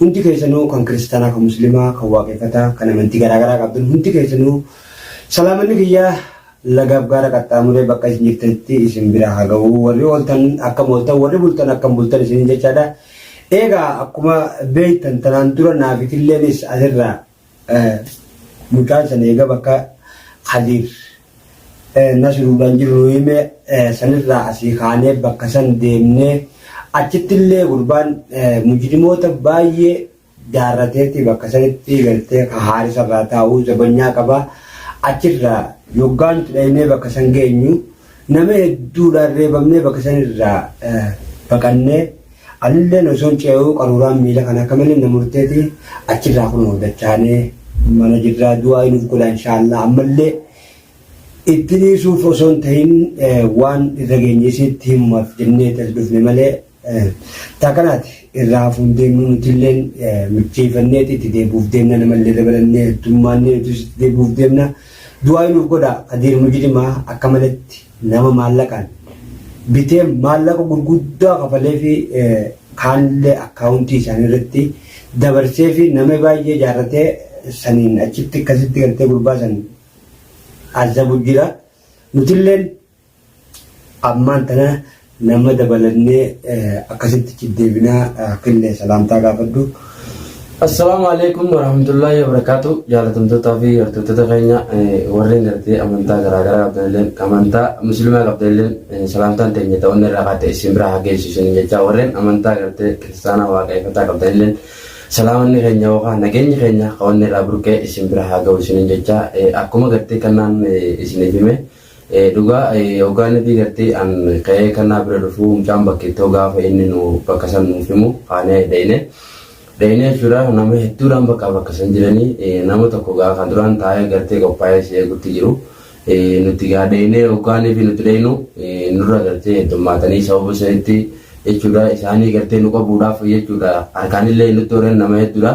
Hundi keessanuu kan kiristaanaa kan muslimaa kan waaqeffataa kan amantii garaa garaa qabdan hundi keessanuu salaamanni kiyya lagaaf gaara qaxxaamuree bakka isin jirtanitti isin bira haa ga'u warri ooltan akkam ooltan warri bultan akkam bultan isiniin jechaadha. Eegaa akkuma beektan tanaan dura naafitilleen is asirraa Mucaan san eega bakka Khadir Nasruudhaan jiru nu hime sanirraa asii kaanee bakka san deemnee achittillee gurbaan mujrimoota baay'ee jaarrateeti bakka sanitti galtee ka haarisarraa taa'uu zabanyaa qaba achirraa yoggaan dhaynee bakka san geenyu nama hedduudhaan reebamnee bakka sanirraa baqannee Anilleen osoon ce'uu qaruuraan miila kana akka malee na murteeti achirraa kunoo dachaanee mana jirraa du'aayi nuuf godhaa inshaallah ammallee itti dhiisuuf osoon tahin waan irra geenye isiitti himumaaf jenneeti as dhufne malee taa kanaati irraa hafuun deemnu nutilleen micheeffanneeti itti deebuuf deemna namallee dabalannee heddummaannee nutis itti deebuuf deemna du'aayi nuuf godhaa kadiir mujrimaa akka maletti Nama maallaqaan bitee maallaqa gurguddaa kafaleefi kaanillee akkaawuntii isaanii irratti dabarseefi nama baay'ee jaarrate saniin achitti akkasitti gartee gurbaa san azabu jira. Nutilleen ammaan tana Nama dabalannee akkasitti itti deebinaa killee salaamtaa gaafadhu. Assalaamu alaikum warahmatullaahi wabarakaatu jaalatamtootaa fi hordoftoota keenya warreen gartee amantaa garaagaraa qabdanilleen amantaa muslimaa qabdanilleen salaamtaan teenya ta'uun irraa haa ta'e isin biraa haa geessu isin jechaa warreen amantaa gartee kiristaanaa waaqeffataa qabdanilleen salaamanni keenya yookaan nageenyi keenya qabanne irraa burqee isin biraa haa ga'u isin jechaa akkuma gartee kannaan isin hime Dhugaa hoggaa inni fi gartee an ka'ee kannaa bira dhufuu mucaan bakkeettoo gaafa inni nu bakka san nuuf himu kaanee dhayne. Dhayne jechuudha nama hedduudhaan bakka bakka san jiranii nama tokko gaa kan duraan taa'ee gartee qophaa'ee si eegutti jiru. Nuti gaa dhaynee hoggaa inni fi nuti dhaynu nurra gartee heddummaatanii sababa sanitti jechuudha isaanii gartee nu qabuudhaaf jechuudha harkaanillee nutti horan nama hedduudha.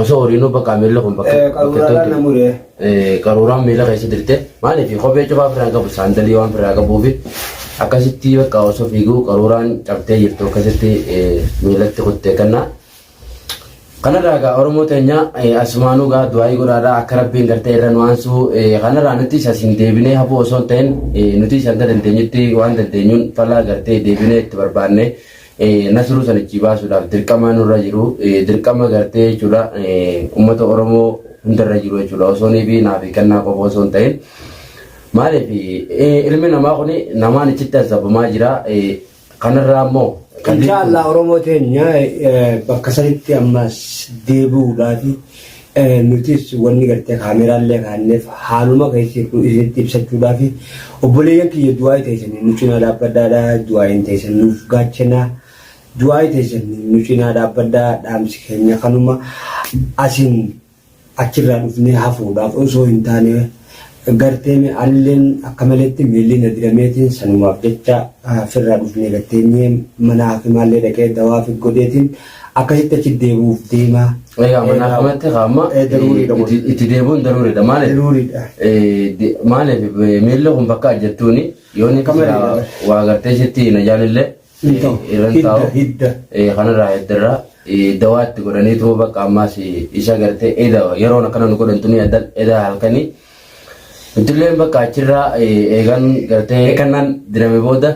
Osoo horiinuu bakka miila kun bakka Eh, qaruuraadhaan na mure. Eh, qaruuraan miila keessa dirte maaliif kophee cufaa ofirraa hin qabu saandalii waan ofirraa qabuufi akkasitti bakka osoo fiiguu qaruuraan cabtee jirtu akkasitti eh, miilatti kuttee kanna. Kanarraa egaa Oromoo teenya eh, asumaanuu egaa du'aayii godhaadhaa akka rabbiin gartee irra nu aansuu eh, kanarraa nuti isa siin deebinee hafuu osoo hin ta'in eh, nuti isa hanga dandeenyutti waan dandeenyuun falaa gartee deebinee itti barbaanne Nasruu san achii baasuudhaaf dirqamaa nurra jiru dirqama gartee jechuudha uummata Oromoo hundarra jiru jechuudha osoo ni fi naa fi kennaa qofa osoo hin ta'in maaliif ilmi namaa kun namaan achitti azzabamaa jira kanarraa immoo Insha Allah Oromoo teenya bakka sanitti ammas deebi'uudhaati Nutis wanni gartee kaameraallee kaanneef haaluma keessa jirru isinitti ibsachuudhaafi. Obboleeyyan kiyya du'aayi teessanii nu cinaa dhaabbadhaadha. Du'aayiin teessan nuuf gaachana. Du'aayi teessan nu cinaa dhaabbadha. Dhaamsi keenya kanuma. Asiin achirraa dhufnee hafuudhaaf osoo hin taane Garteeme anilleen akka maleetti miilli na dirameetiin sanumaaf jecha firraa dhufnee gad teenyee mana haakimaallee dhaqee dawaafi godheetiin akkasitti achi deebi'uuf deema. Egaa mana haakimatti kaa amma Eh, daruuriidha kun. itti- itti deebi'uun daruuriidha maaliif? Daruuriidha. Eh, de- Maaliif eh, miilli kun bakka ajjattuuni yoo inni Akka malee silaa dha. waa gartee ishitti hin ajaanillee Hin ta'u. Irra hin taa'u. Hidda, hidda. Kanarraa hiddarraa dawaatti godhaniituma bakka ammaas isa gartee eda yeroon akkana nu godhantu ni addan eda halkanii. Ijoolleen bakka achirraa eegan gartee kannaan dirame booda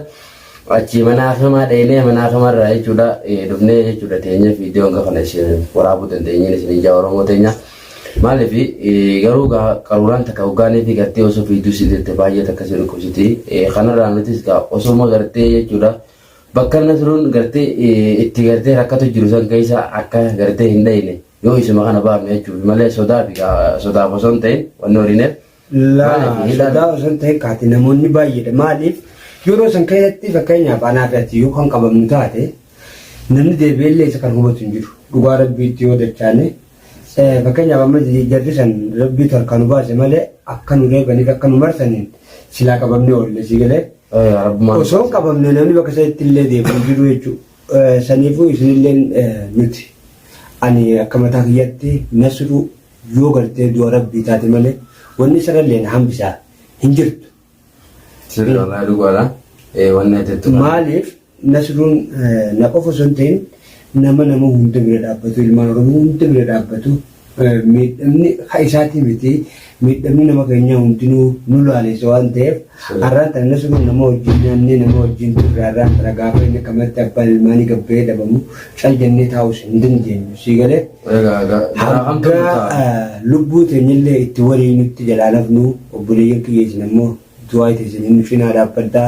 achi mana hakimaa dheenee mana hakimarraa jechuudha dhufnee jechuudha teenyee viidiyoon gafana isin waraabuu dandeenyeen isin ijaa Oromoo teenyaa. Maalif garuu gaa qaruuraan takka hoggaa neetii gartee osoo fiidduu si deette baay'ee takka si dhukkubsiti. Kanarraa nutis gaa osuma gartee jechuudha bakka nasruun gartee itti gartee rakkatu jiru san keessa akka gartee hin dhayne yoo isuma kana baafne jechuuf malee sodaa fi gaa sodaaf osoo hin ta'in wanni horiineef. Laa Maaliif hidhaan sodaa osoo hin ta'in kaati namoonni baay'eedha maaliif yeroo san keessatti fakkeenyaaf anaa fi ati yoo kan qabamnu taate namni deebi'ellee isa kan hubatu hin jiru dhugaa rabbiitti yoo dachaane Fakkeenyaaf amma jarri san rabbiitu harkaa nu baase malee akka nu reebaniif akka nu marsaniin silaa qabamnee oolle si galee. Osoo hin qabamne namni bakka isaatti illee deemu hin jiru jechuudha. Saniifuu isinillee nuti ani akka mataa kiyyatti nasruu yoo gartee du'a rabbii taate malee wanni sarallee na hambisaa hin jirtu. Sirrii walaa dhugaadha. Wanni ati jettu. Maaliif Nasruun na qofa osoo hin ta'in nama nama hunda bira dhaabbatu, ilmaan Oromoo hunda bira dhaabbatu, miidhamni ka isaatii miti, miidhamni nama keenyaa hundinuu nu laaleessa waan ta'eef har'aan tana Nasruun nama wajjin nyaannee nama wajjin turre har'aan tana gaafa inni qamadatti abbaan ilmaanii gabba'ee dhabamu cal jennee taa'uus hin dandeenyu. Sii galee Egaa egaa biraa kan hanga tolu ta'a. eh, lubbuu teenyallee itti waliinutti jalaalafnu obboleeyyan kiyya isin ammoo Du'aayiti isinin cinaa dhaabbadha.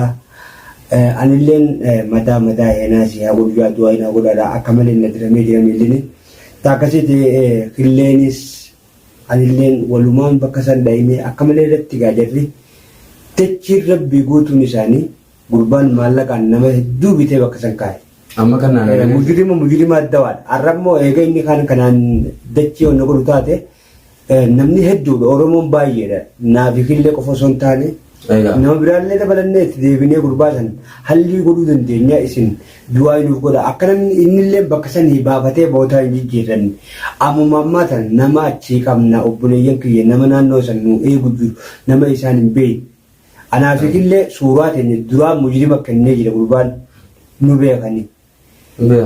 Anilleen mataa mataa heenaa si haa godhu jaa du'aayi naa godhaadha akka malee na diramee jira miillini. Taakkasiiti hilleenis anilleen walumaan bakka san dhayinee akka malee irratti gaa jarri dachiin rabbii guutuun isaanii gurbaan maallaqaan nama hedduu bitee bakka san kaa'e. Amma kan naan agarsiise. Mujrima mujrima addawaadha. Arrammoo eega inni kaan kanaan dachii onna godhu taate Namni hedduudha Oromoon baay'eedha naafi killee qofa osoo hin taane Egaa. nama biraallee dabalannee itti deebinee gurbaa san hallii godhuu dandeenya isin du'aa nuuf godha akka namni innillee bakka sanii baafatee bootaa hin jijjiirranne ammuma ammaa tan nama achii qabna obboleeyyan kiyya nama naannoo san nu eegu jiru nama isaan hin beekne anaafi killee suuraa teenya duraa mujrima kennee jira gurbaan nu beekanii.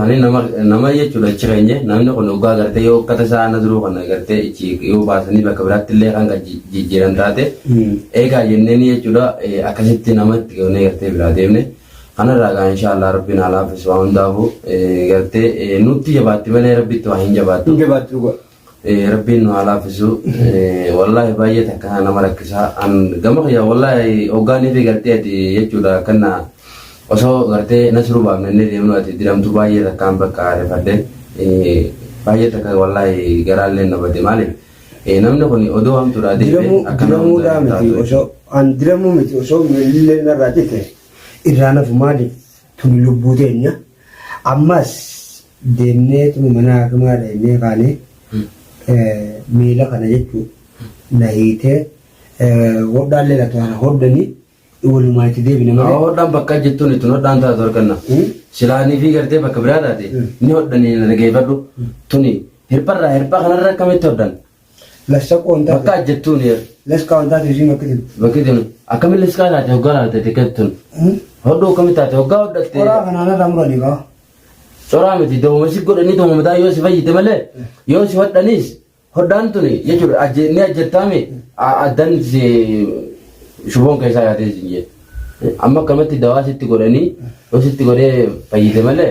Ani nama nama jechuudha achi keenye namni kun dhugaa agartee yoo uffata isaa na duruu kan agartee achi yoo baasanii bakka biraatti illee kan kan ji- jijjiiran taate eegaa jenneen jechuudha eh, akkasitti nama itti goonee gartee biraa deemne kanarraa gaa inshaallah rabbiin haa laaffisu waan hundaafuu eh, gartee eh, nutti jabaatti malee rabbitti waa hin jabaattu. Hin jabaattu dhugaa. Rabbiin nu haa laaffisu. Wallaahi baay'ee takka nama rakkisaa. An gama kiyyaa wallaahi hoggaa neefee gartee ati jechuudha akkanna osoo gartee nasiruu baafnannee deemnu ati diramtu baay'ee takkaan bakka rifadhe. Baay'ee takka wallaahi garaallee na bade maaliif namni kun odoo hamtuudhaa deemee akka nama Diramuudhaa hundaa miti taatu osoo an diramuu miti osoo miilillee narraa cite irraa nafu maaliif tuni lubbuu teenya ammas Deemneetuma mana hakimaa dhaqnee kaane miila kana jechuun na hiitee hodhaallee laatu kana hodhanii walumaan itti deebine malee. Hodhaan bakka jettuun ittiin hodhaan taatu arganna. Silaanii fi gartee bakka biraa taate ni hodhanii na dhageeffadhu. Tuni hirpharraa hirpha kanarra akkamitti hodhan? Lassa qoontaa. Bakka ajjattuun yer. Las kaawwantaa teessii bakka jiru. Bakka jiru. Akkamitti liskaa taate hoggaa laalte tikkattun. Hodhuu akkamitti taate hoggaa hodhatte. Qoraa kanaan irraa muranii kaa. Coraa miti dooma si godhanii dooma mataa yoo si fayyite malee yoo si hodhanis hodhaan tuni jechuudha ajje ni ajjattaame addan si shuboon keessaa yaatee si jee. Amma akkamatti dawaa sitti godhanii yoo sitti godhee fayyite malee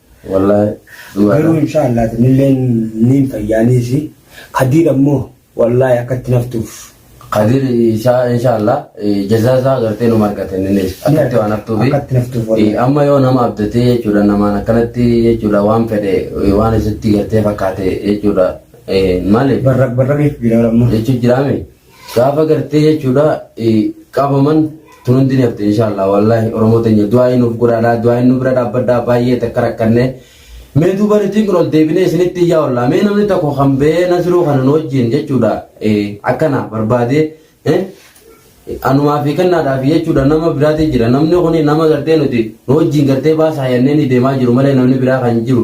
Wallahi dhugaa Garuu dha. insha Allah nilleen niin fayyaaniisi. Kadiir ammoo wallahi akka itti naftuuf. Kadir insha- inshallah eh, jazaa isaa agartee numa argata innis akkatti waan haftuufi Akkatti naftuuf wallahi. Eh, amma yoo nama abdatee jechuudha namaan akkanatti jechuudha waan fedhe eh, waan isatti gartee fakkaate jechuudha eh, maali Barraq barraqeef jira ammoo. jechuun jiraame Gaafa gartee jechuudha qabaman tun hundi ni hafte inshaallah wallaahi oromoo teenya du'aa'ii nuuf godhaadhaa du'aa'ii nu bira dhaabbadhaa baay'ee takka rakkannee mee duuba nutiin kun ol deebinee isinitti iyyaa ollaa mee namni tokko kan ba'ee nasiruu kana nu wajjin jechuudha akkana barbaadee anumaa fi kennaadhaa fi jechuudha nama biraatii jira namni kun nama gartee nuti nu wajjin gartee baasaa yannee ni deemaa jiru malee namni biraa kan jiru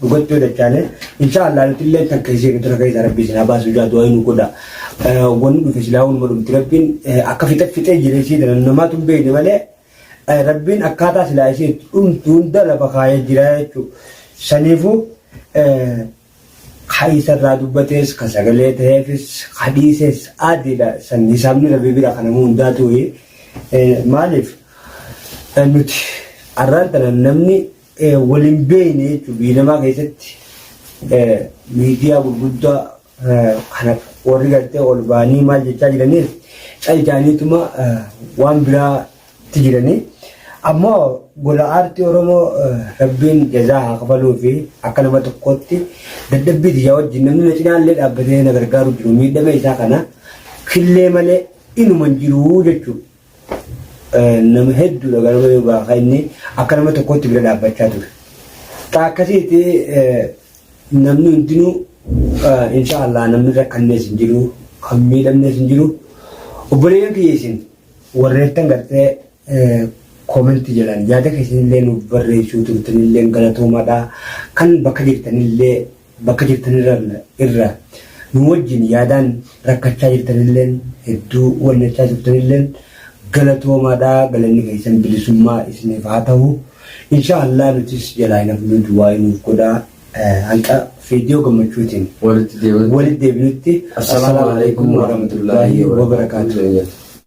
dhugatti hojjechaane insha Allah nuti illee takka ishee gadi ragaa isaa rabbi isin abaasu jaa du'aa inni godha wanni dhufe silaa wanuma dhumti rabbiin akka fixe fixee jira ishee dana namaatu hin beekne malee rabbiin akkaataa silaa ishee dhumtu hunda lafa kaayee jira jechuudha saniifuu kan isarraa dubbatees kan sagalee ta'eefis kan dhiisees adiidha san hisaabni rabbi bira kan namuu hundaa ture maaliif nuti arraan tana namni wal hin beekne jechuun biyya namaa keessatti miidiyaa gurguddaa kana warri gartee ol ba'anii maal jechaa jiraniif cal jaaniituma waan biraatti jiranii ammoo gola aartii oromoo rabbiin jazaa haa kafaluu fi akka nama tokkootti dadhabbii tiyyaa wajjin namni na cinaallee dhaabbatee na gargaaru jiru miidhama isaa kana killee malee inuman jiru jechuudha. nama hedduudha ganama yoo baafa inni akka nama tokkootti bira dhaabbachaa ture. Taa akkasiiti namni hundinuu insha Allah namni rakkannees hin jiru kan miidhamnees hin jiru obboleeyyan kiyya isin warreettan gartee koomentii jedhan yaada keessanillee nuuf barreessuu turtanillee galatoomaadha kan bakka jirtanillee Bakka jirtanirran irra nu wajjin yaadaan rakkachaa jirtanilleen hedduu wannachaa turtanilleen galatoomaadha galanni keessan bilisummaa isiniif haa tahu inshaa allaah nutis jalaa hin hafnuu duwaa'ii nuuf godhaa hanga vedio gammachuutiin Walitti deebinutti. walitti deebinutti Assalaamu Assalaamu Alaikum Alaikum Warahmatullaahi Warahmatullaahi Wabarakaatuh. Wabarakaatuh.